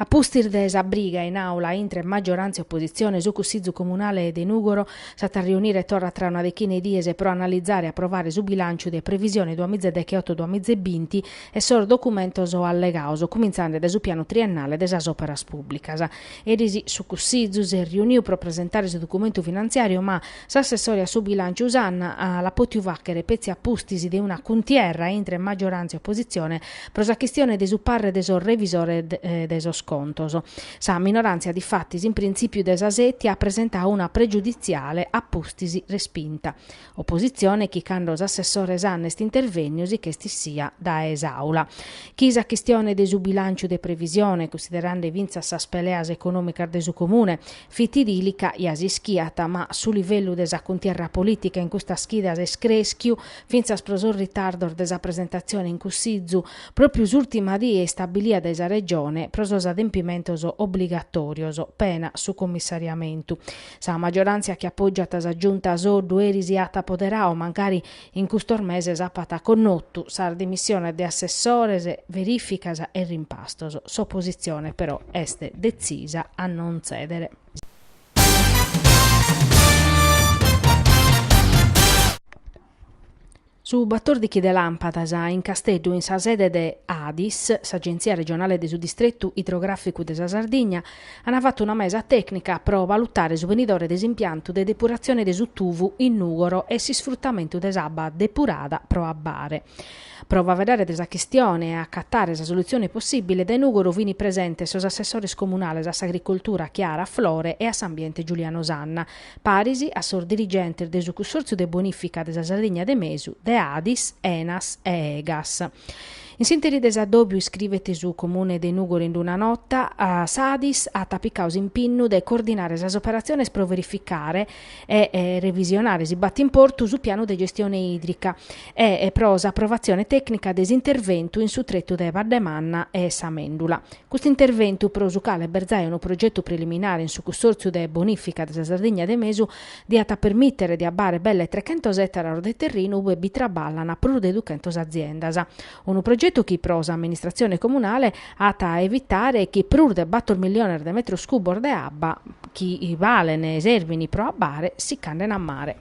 A pustis de sa briga in Aula intre maggiorantzia e oppositzione, su Cussìgiu Comunale de Nùgoro s'at a riunire torra tra una dechina 'e dies pro analizare e aprovare su bilànciu de previsione duas miza e dechioto-duas miza e binti e sos documentos allegados, cumintzande dae su pianu triennale de sas òperas pùblicas. Eris su Cussìgiu s'est riuniu pro presentare su documentu finantziàriu ma, s'assessore a su bilànciu Sanna l'at pòtiu fàchere petzi a pustis de una cuntierra intre maggioràntzia e opositzione pro sa chistione de su parre de sos revisores de sos contos. Sa minoràntzia difatis in printzìpiu de sa sètia at presentadu una pregiuditziale a pustis respinta. Opositzione chi cando s'assessore Sanna est intervènniu si ch'est issia dae s'Àula. Chi sa chistione de su bilànciu de previsione, cunsiderande fintzas sas peleas econòmicas de su Comune, fit dìlica, ja s'ischiat, ma su livellu de sa cuntierra polìtica in custas chidas est crèschiu, fintzas pro sos ritardos de sa presentatzione in Cussìgiu, pròpiu s'ùrtima die istabilia dae sa Regione pro sos adempimentos obligatòrios, pena su commissariamentu. Sa magioràntzia chi apògiat sa Giunta Soddu eris ja at apoderadu mancari In custos meses apat connotu sas dimissiones de assessores, verìficas e rimpastos. S'opositzione però est detzisa a non tzèdere. Su batòrdighi de làmpadas in Casteddu in sa sede de Adis, s'Agentzia Regionale de su Distretu Idrogràficu de sa Sardigna, Ana fattu una mesa tecnica pro valutare su benidore de s'impiantu de depuratzione de su Tuvu in Nùgoro e s'isfruttamentu de s'abba depurada pro abbare. Pro faveddare de sa chistione e acatare sa solutzione possìbile, dae Nùgoro fini presentes sos assessores comunales a s'Agricoltura Chiara Flore e a s'Ambiente Giuliano Sanna, paris a sos dirigentes de su Cussòrtziu de Bonìfica de sa Sardigna de Mesu de Adis, Enas e Egas. In s'interi de s'addòbiu iscrivet su Comune de Nùgoro in una nota, s'Adis at picadu s'impinnu de coordinare sas operatziones pro verificare e revisionare, si b'at importu, su pianu de gestione ìdrica e pro s'aprovatzione tècnica de s'interventu in su tretu de Badde Manna e sa Mèndula. Custu interventu, pro su cale b'est zai unu progetu preliminare in su Cussòrtziu de bonìfica de sa Sardigna de Mesu, diat a permìtere de abbare belle trechentos ètaros de terrinu ue bi traballan prus de duchentos aziendas. Unu progetu chi pro s'amministratzione comunale at a evitare chi prus de bàtor milliones de metros cubos de abba chi balen e servin pro abbare si ch'anden a mare.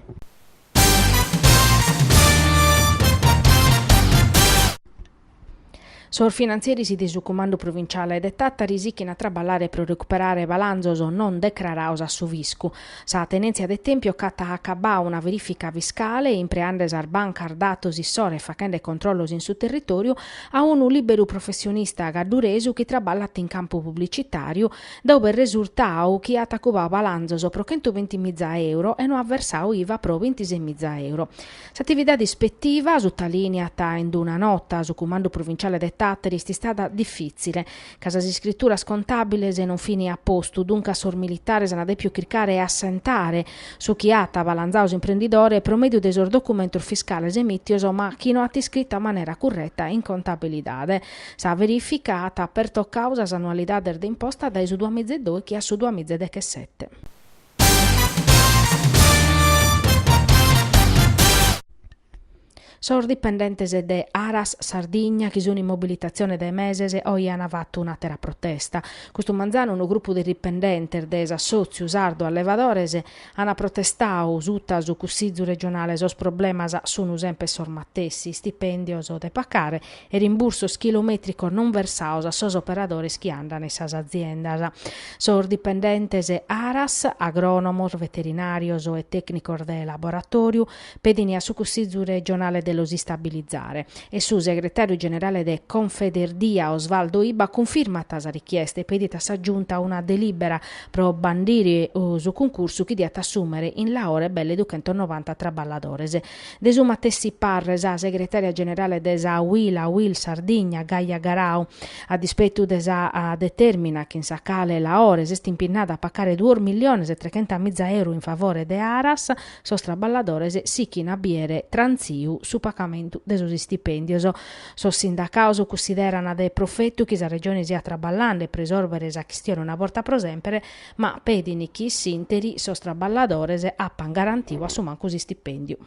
Sos finantzieris de su Cumandu Provinciale de Tàtari sichint a traballare pro recuperare balanzos non decrarados a su fiscu. Sa Tenèntzia de Tèmpiu cc'at acabbadu una verìfica fiscale, impreende sas bancas datos issoro e faghende controllos in su territòriu, a unu lìberu professionista cadduresu chi traballat in campu publicitàriu, dae ube est resurtadu chi at acubadu balanzos pro chentuvinti miza euro e no at versadu iva pro bintisei miza euro. S'atividade ispettiva, sutalìniat in una nota su Cumandu Provinciale de Tàteri, est istada difìtzile, ca sas iscrituras contàbiles non fin a postu, duncas sos militares ant dèpiu chircare 'e assentare su chi at abalanzadu s'imprendidore pro mèdiu de sos documentos fiscales emìtios ma chi no at iscritu a manera curreta in contabilidade. Sa verìfica at pertocadu sas annualidades de imposta dae su duamiza e dòichi a su duamiza e dechesete. Sos dipendentes de Aras Sardigna chi sun in mobilitatzione de meses oje an fatu un'àtera protesta. Custu manzanu unu grupu de dipendentes de s'Assòtziu Sardu Allevadores an protestadu suta su Cussizu regionale sos problemas sun semper sos matessi, istipèndios de pacare e rimbursos chilomètricos non versados a sos operadores chi andana in sas aziendas. Sos dipendentes Aras, agrònomos, veterinàrios e tècnicos de laboratòriu pedin a su Cussizu regionale de los istabilizare e su segretàriu generale de Confederdia Osvaldo Ibba cunfirmat sa richiesta e pedit a sa Giunta una delìbera pro bandire su cuncursu chi diat assùmere in Laore belle duchentos novanta traballadores. De su matessi parre sa segretària generale de sa Uila Uil Sardigna, Gaia Garau. A dispetu de sa detèrmina chin sa cale Laore s'est impinnada a pacare duos milliones e trechenta miza euru in favore de Aras, sos traballadores sichint a biere trantziu su pagamentu de sos istipèndios. Sos sindacados cunsiderant de profetu chi sa Regione siat traballende pro isòrvere sa chistione una borta pro semper, ma pedint chi s'ìnteri sos traballadores apan garantiu a su mancu s'istipendiu.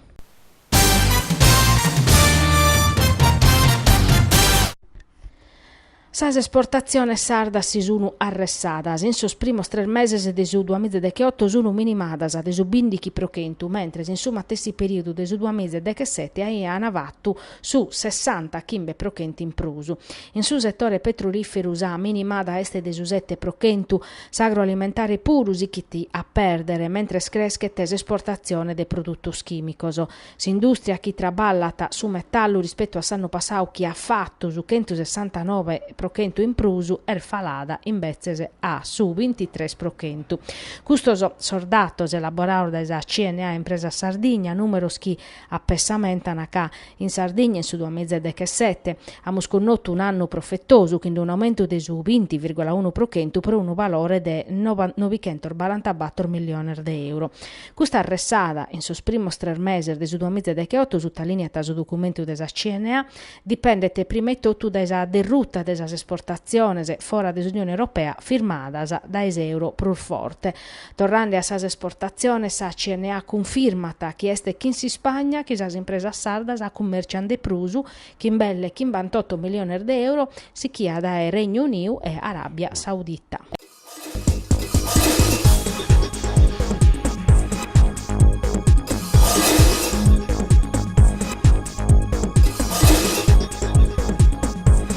Sas esportatziones sardas si sunu arressadas, in sos primos tres meses de su duamiza e decheoto sunu minimadas de su bìndichi pro chentu, mentres in su matessi periodu de su duamiza e dechesete aian fatu su sessanta chimbe pro chentu in prus. In su setore petrolìferu sa minimada est de su sete pro chentu, s'agroalimentare puru sichit a pèrdere, mentres creschet s'esportatzione de produtos chìmicos. S'indùstria chi traballat su metallu rispetu a s'annu passadu chi at fatu su chentu sessantanove pro chentu in prus est falada invetzes a su bintitres pro chentu. Custos sos datos elaborados dae sa CNA Impresas Sardigna, nùmeros chi apessamentana ca, in Sardigna in su duamiza e dechesete, amus connotu un'annu profetosu chind'un'aumentu de su binti virgola unu pro chentu pro unu valore de no- nobichentos barantabator milliones de euro. Custa arressada in sos primos tres meses de su duamiza e decheotu, sutalìniat su documentu de sa CNA, dipendet prima etotu dae sa derruta de sas esportatziones fora de s'Unione Europea firmadas dae s'euro prus forte, Torrende a sas esportatziones sa CNA cunfirmat chi est chin s'Ispagna chi sas impresas sardas cummèrciant de prus, chin belle chimbantoto miliones de euro, sichia dae Regnu Uniu e Aràbia Saudita.